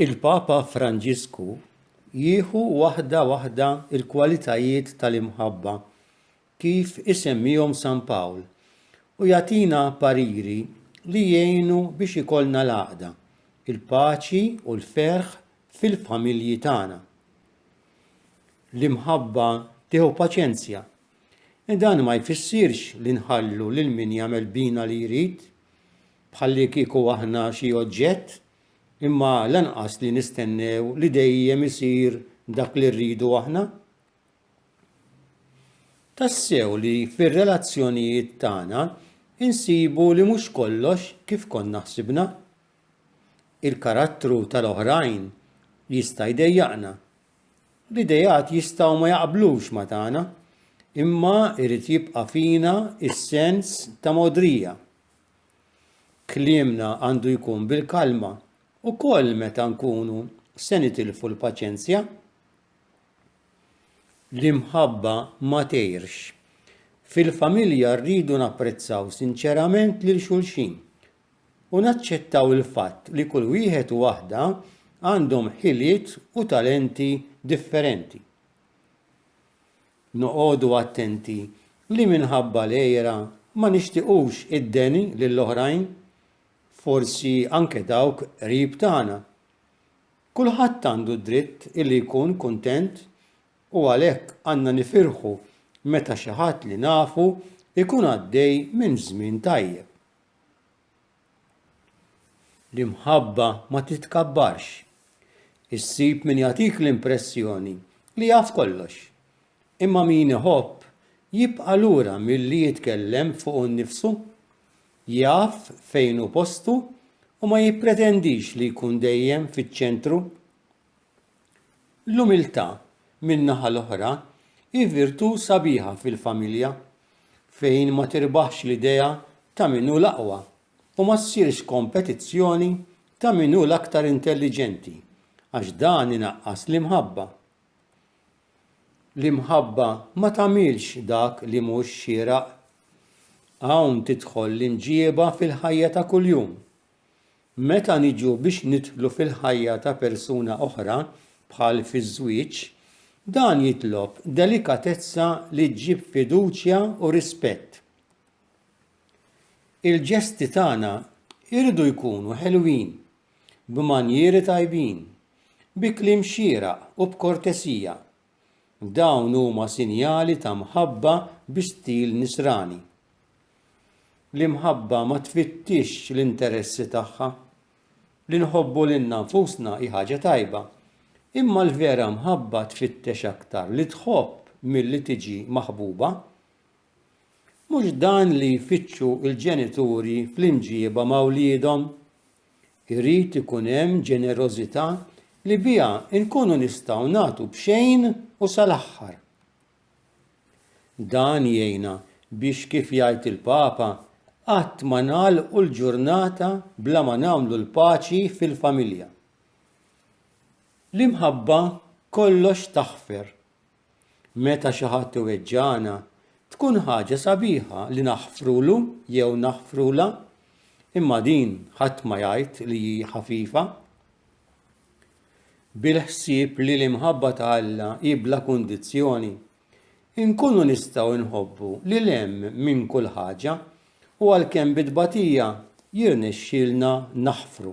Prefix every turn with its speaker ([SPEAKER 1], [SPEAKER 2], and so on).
[SPEAKER 1] Il-Papa Franġisku jieħu waħda waħda l-kwalitajiet tal-imħabba kif isemmihom San Pawl u jagħtina pariri li jgħinu biex ikollna l-għaqda, il-paċi u l-ferħ fil-familji tagħna. L-imħabba tieħu paċenzja. Dan ma jfissirx li nħallu lil min jagħmel bina li jrid, bħallikieku aħna xi oġġett, imma lanqas li nistennew li dejjem isir dak li rridu aħna. Tassew li fir-relazzjonijiet tagħna insibu li mhux kollox kif konna ħsibna. Il-karattru tal-oħrajn jista' jdejjaqna L-ideat jistgħu ma jaqblux ma' tagħna, imma jrid jibqa' fina s-sens ta' mogħdrija. Kliemna għandu jkun bil-kalma, ukoll meta nkunu se nitilfu l-paċenzja. L-imħabba ma tgħirx. Fil-familja rridu napprezzaw sinċerament lil xulxin u naċċettaw il-fatt li kull wieħed u waħda għandhom ħiliet u talenti differenti. Noqogħdu attenti li minħabba l-għira ma nixtiqux id-deni lill-oħrajn, forsi anke dawk qrib tagħna. Kulħadd għandu d-dritt li jkun kuntent u għalhekk għandna nifirħu meta xi ħadd li nafu jkun għaddej minn żmien tajjeb. L-imħabba ma titkabbarx. Issib min jagħtik l-impressjoni li jaf kollox. Imma min iħobb jibqa' lura milli jitkellem fuqu nnifsu. Jaf fejn hu postu u ma jippretendix li jkun dejjem fiċ-ċentru. L-umiltà, min-naħa l-oħra, hi virtù sabiħa fil-familja, fejn ma tirbaħx l-idea ta' min hu l-aqwa u ma ssirx kompetizzjoni ta' min hu l-aktar intelliġenti, għax dan inaqqas l-imħabba. L-imħabba ma tagħmilx dak li mhux xieraq. Hawn tidħol l-imġieba fil-ħajja ta' kuljum. Meta niġu biex nidħlu fil-ħajja ta' persuna oħra, bħal fiż-żwieġ, dan jitlob delikatezza li ġġib fiduċja u rispett. Il-ġesti tagħna jridu jkunu ħelwin, b'manjieri tajbin, bi kliem xieraq u b'kortesija, Dawn huma sinjali ta' mħabba bi stil Nisrani. L-imħabba ma tfittixx l-interessi tagħha. Li nħobbu lilna nfusna hi ħaġa tajba, imma l-vera mħabba tfittex aktar li tħobb milli tiġi maħbuba. Mhux dan li jfittxu l-ġenituri fl-imġieba ma' wliedhom? Irid ikun hemm ġenerożità li biha nkunu nistgħu nagħtu b'xejn u sal-aħħar. Dan jgħinna biex kif jgħid il-Papa qatt ma nagħlqu l-ġurnata bla ma nagħmlu l-paċi fil-familja. L-imħabba kollox taħfer. Meta xi ħadd iweġġagħna, tkun ħaġa sabiħa li naħfrulu jew naħfrulha, imma din ħadd ma jgħid li hi ħafifa. Bil-ħsieb li l-imħabba ta' Alla hi bla kundizzjoni, inkunu nistgħu nħobbu lil hemm minn kull ħaġa u għalkemm bit-tbatija jirnexxilna naħfru.